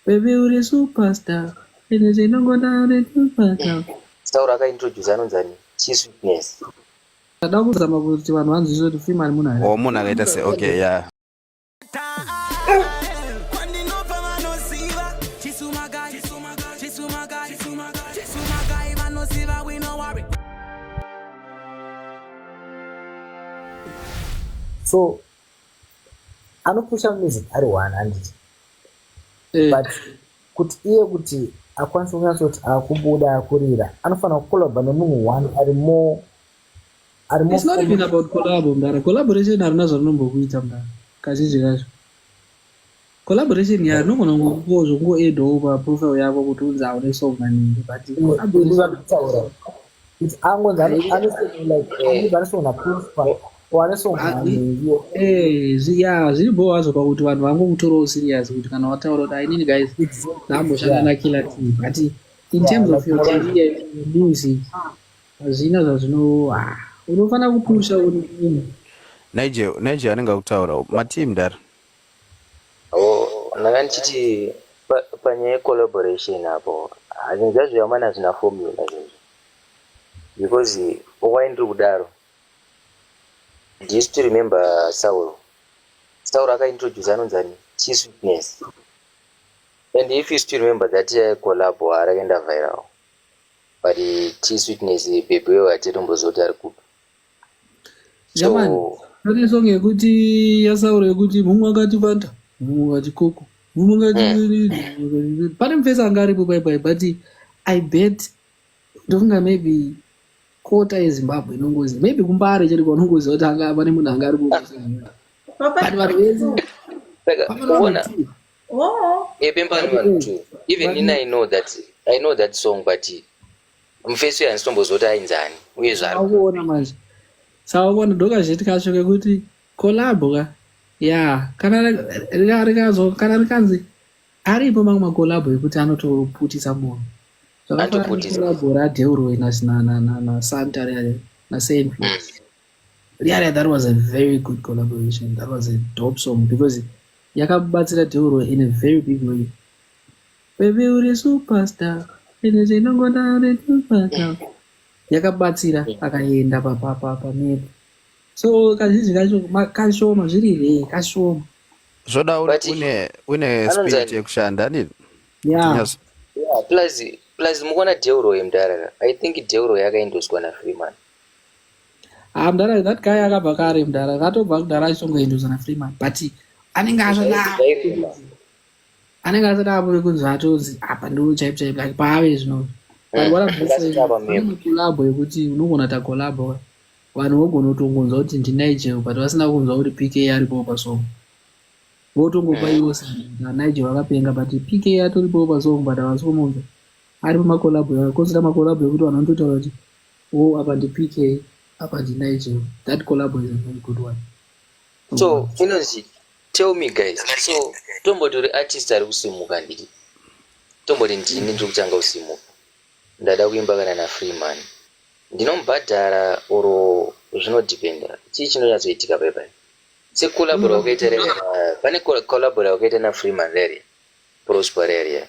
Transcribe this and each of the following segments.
Baby uri superstar. Ende tinongoda uri superstar. Taura aka introduce anonzi ani? Chisweetness. Ndada kuzama kuti vanhu vanzwisise kuti Freeman munhu ari. Oh munhu akaita se okay yeah. So anopusha music ari one handiti eh. but kuti iye kuti akwanise kunatsa kuti akubuda akurira anofanira kukolabha nemunhu one ari more ari more it's not even about collabo mdara collaboration harina zvarinombokuita mdara kazhinji kacho collaboration ya anogona kungo zvokungo add over profile yako kuti unzi aone song maningi but abudivakutaura kuti angonzi anosona prospa ya zviri bho wazvo pakuti vanhu vangokutorawo serious kuti kana wataura kuti ainini guys ndaamboshanda nakila t but in terms of your career music hazvina zvazvino ah, unofanira kupusha uri nigel nigel anenge akutaurawo mateam dara Apo ndanga ndichiti pa- panyaya yecollaboration apo ah, zvinhu zvacho zvamana hazvina formula izvozvo because why ndiri kudaro do you still remember saul saul akaintroduce anonzi ani chief witness and if you still remember that uh, collab harakaenda viral but uh, chief witness bebe weyo hatitombozoti ari kupi Jamani, so pane song yekuti yasauro yekuti mumwe wakati vanda mumwe wakati koko mumwe wakati mm. pane mufesi anga aripo paipai but i bet ndofunga maybe kota yezimbabwe inongozi maybe kumbare chete kwaunongoziva kuti anga pane munhu anga ari kuoa but vanhu vese vakaona yepembani vanhu two even ini i know that i know that song but Mufesi uyu handisitomboziva kuti ainzi ani uye zvaari kuona manje. Sauvona ndokazviti kacho kekuti collab ka ya kana rikazo kana rikanzi aripo mamwe macollab ekuti anotoputisa munhu zvakafanaacollab radeurwe nasanta riya nasaint mm. riya riya that was a very good collaboration that was a dope song because yakabatsira deurwe in a very big way Baby uri superstar. Ende tinongoda uri superstar. Yakabatsira akaenda papa papa mepo. So kazhinji kacho ma- kashoma zviri here kashoma. zvoda But- une- une une Anonzi spirit ani? yekushanda hanini Yeah. Tinyazo- Yeah, plus plus mukuona deuro yemdara i think deuro yakaindoswa nafreeman Ah, mdara that guy akabva kare mdara. Katobva kudhara achongoendozana Freeman. But anenge azvada. Zvairema. anenge asati ave kunzi atonzi apa ndoo chaipo chaipo like paave zvino kolabo yekuti unogona ta kolabo vanhu vogona kutongonzwa kuti ndinigel but vasina kunzwa kuti pk aripowo pasong votongopa mm. iwo nigel vakapenga but pk atoripowo pasong but havasi kumunza ari pamakolabo aa kozita makolabo ekuti vanhu vanototaura kuti o oh, apa ndi pk apa ndinigel that kolabo is a very good one so inonzi Tell me guys, so tomboti uri artist ari kusimuka ndiri tomboti ndini ndiri kutanga kusimuka ndada kuimba kana nafreeman ndinomubhadhara or zvinodependa chii chinonyatsoitika pepa secollabora wakaita rere pane collabora wakaita nafreeman rere prosper rere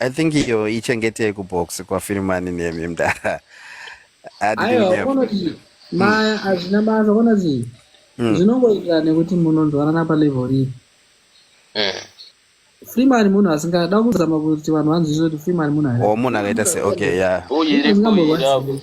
I think iyo ichengetei kubox kwafirimani nemi mdara. I didn't aiwa have. unoti maya hazvina basa kuona zii Mm. zvinongoita nekuti munonzwanana palevel ripi Mm. freeman munhu asingada kuzama kuti vanhu vanzwisise kuti freeman munhu Or munhu akaita se okay yeah. Bhoyi Munhu riko asingambova iri apo. serious.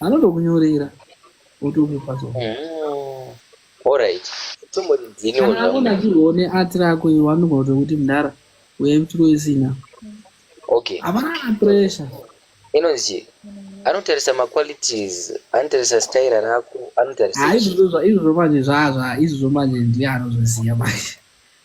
anotokunyorera otokupa zona mm-hmm. orit tombodidzinioaona chione ati rako iwe anogona kuto kuti mdara uya mtiro isina okay hapana pressure inonzi anotarisa maqualities anotarisa staira rako anotarisa izvozvo manje zvazva izvozvo manje ndiye anozviziva manje